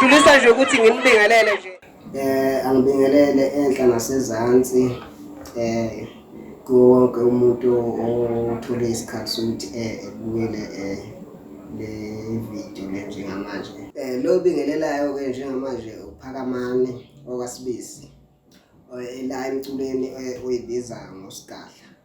ngidlulisa nje ukuthi nginibingelele nje Eh angibingelele enhla nasezantsi eh kuwo wonke umuntu othole isikhathi sokuthi eh ebukele eh le video le njengamanje. Eh lo bingelelayo ke njengamanje uphakamani okasibisi eh, la emculweni eh, oyibiza ngosigadla.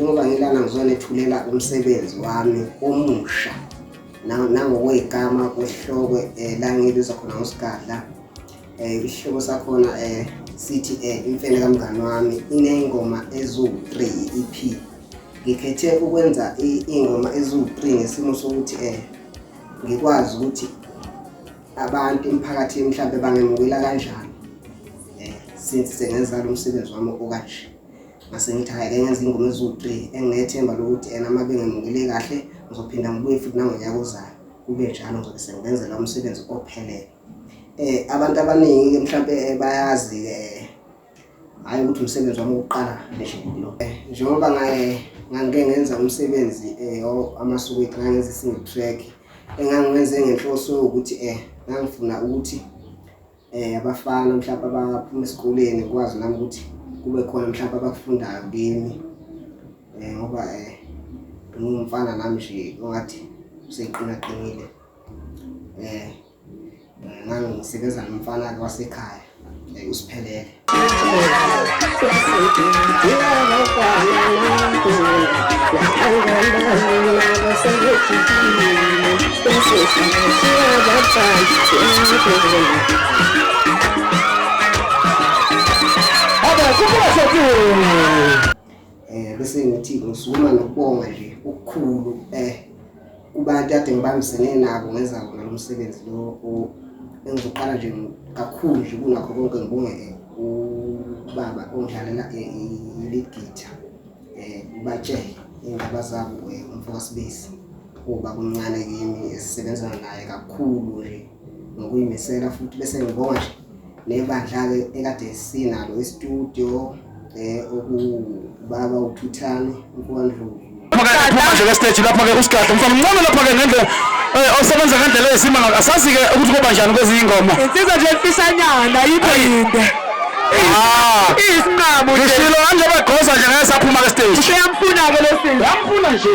njengoba ngilana ngizona ethulela umsebenzi wami omusha nangokwey'gama kwesihloko um eh, la ngibiza khona ngosigadla um eh, isihloko sakhona um sithi um imfene kamngani wami iney'ngoma eziwu-three i-e-p ngikhethe ukwenza iy'ngoma eziwu-three ngesimo sokuthi um ngikwazi ukuthi abantu emphakathini mhlawumbe bangemukela kanjani eh, since sengenza lo msebenzi wami okanje ngase ngithi hhayi ke ngenza ingoma eziwu-three enginethemba lokuthi ena uma bengemukele kahle ngizophinda ngibuye futhi nangonyaka ozayo kube njalo ngizobe sengibenza lo msebenzi ophelele um abantu abaningi-ke mhlawumpe eh, bayazi-ke hhayi ukuthi umsebenzi wami wokuqala neshilo eh, njengoba ngangike ngenza umsebenzi um amasuku ethu ngangenza i-single track engangiwenze ngenhloso yokuthi um ngangifuna ukuthi um abafana mhlawumpe abaphuma esikoleni kwazi nami ukuthi kube khona mhlawumpe abakufundayo kimi um ngoba um ngingumfana nami nje ongathi useqinaqinile um ngangisebenza nomfana wasekhaya eh, usiphelele um bese ngithi ngisukuma nokubonga nje okukhulu um kubantu ade ngibambisene nabo ngenza wona lo msebenzi lo engizoqala nje kakhulu nje kunakho konke ngibonge eh, ubaba ongidlalela eh, i-lead guitar um ubatshele iy'ndaba zabo um umfokasibisi uba kumncane kimi esisebenzana naye kakhulu nje ngokuyimisela futhi bese ngibonga nje nebandla-ke ekade sinalo estudio um eh, okubaba uthuthane umfowandlovu phuma nje kesteji lapha-ke usigadla mfana mncane lapha-ke ngendlela eh, osebenza ngendlela eyisima ngalo asazi-ke ukuthi kuba njani kwezinye ingoma insizwa nje mfishanyana yikho yinde ah. iyisinqamo ngishilo kanje begoza nje ngeke saphuma kesteji useyamfuna-ke lo sisi yamfuna nje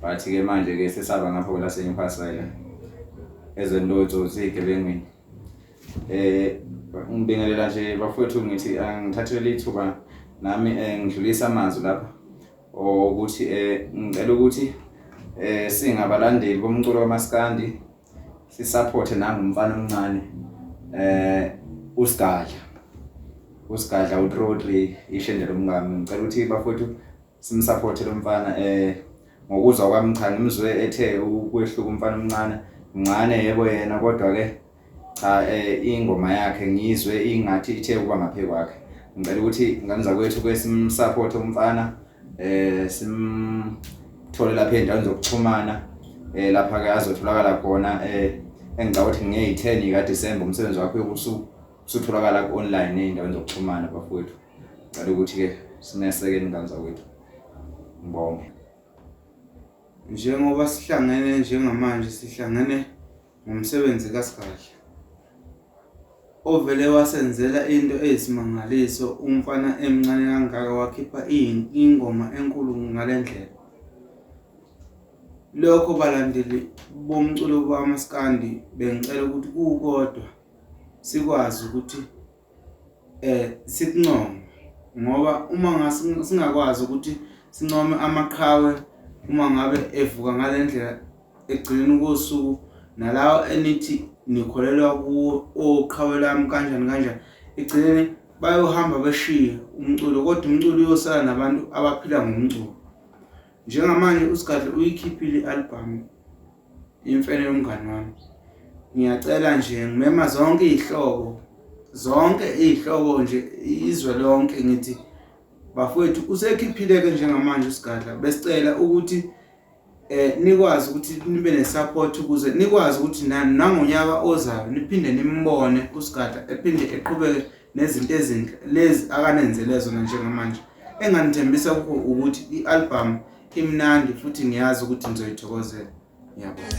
but ke manje ke sesaba ngapho la senyukhasela ezweni lotsotsi igebengwini eh ngibingelela nje bafowethu ngithi angithathele ithuba nami eh, ngidlulisa amazwi lapha ukuthi eh ngicela ukuthi eh singabalandeli bomculo kamaskandi sisupporte nangumfana omncane eh usigadla usigadla uTrodri ishendela umngami ngicela ukuthi bafowethu simsapothe lo mfana eh ngokuzwa kwami cha ngimzwe ethe ukwehluka umfana omncane mncane yebo yena kodwa ke cha eh ingoma yakhe ngizwe ingathi ithe kuba ngaphe kwakhe ngicela ukuthi ingane zakwethu ke simsapothe umfana eh simthole lapha endaweni zokuxhumana eh lapha ke azotholakala khona eh engicabanga ukuthi nge-10 ka December umsebenzi wakhe yokusuku usutholakala ku-online ey'ndaweni zokuxhumana bafowethu Ngicela ukuthi-ke sineseke ingane zakwethu. Ngibonge. Njengoba sihlangene njengamanje sihlangene ngomsebenzi kaSigadla ovele wasenzela into eyisimangaliso umfana emncane kangaka wakhipha ingoma enkulu ngale ndlela. Lokho balandeli bomculo bamaskandi bengicela ukuthi kukodwa sikwazi ukuthi eh sikuncome ngoba uma singakwazi ukuthi sincome amaqhawe uma ngabe evuka ngalendlela egcina kosuku nalawo enithi nikholelwa kuwo oqhawe lami kanjani kanjani egcineni bayohamba beshiye umculo kodwa umculo uyosala nabantu abaphila ngomculo njengamanje usigadle uyikhiphile i-albhamu Imfene yomngani wami. Ngiyacela nje ngimema zonke izihlobo zonke izihlobo nje izwe lonke ngithi bafowethu usekhiphile ke njengamanje usigadla besicela ukuthi eh nikwazi ukuthi nibe nesupport ukuze nikwazi ukuthi nangonyaka ozayo niphinde nimbone usigadla ephinde eqhubeke nezinto ezinhle lezi akanenzele zona njengamanje enganithembisa kukho ukuthi i-albhamu imnandi futhi ngiyazi ukuthi nizoyithokozela ngiyabona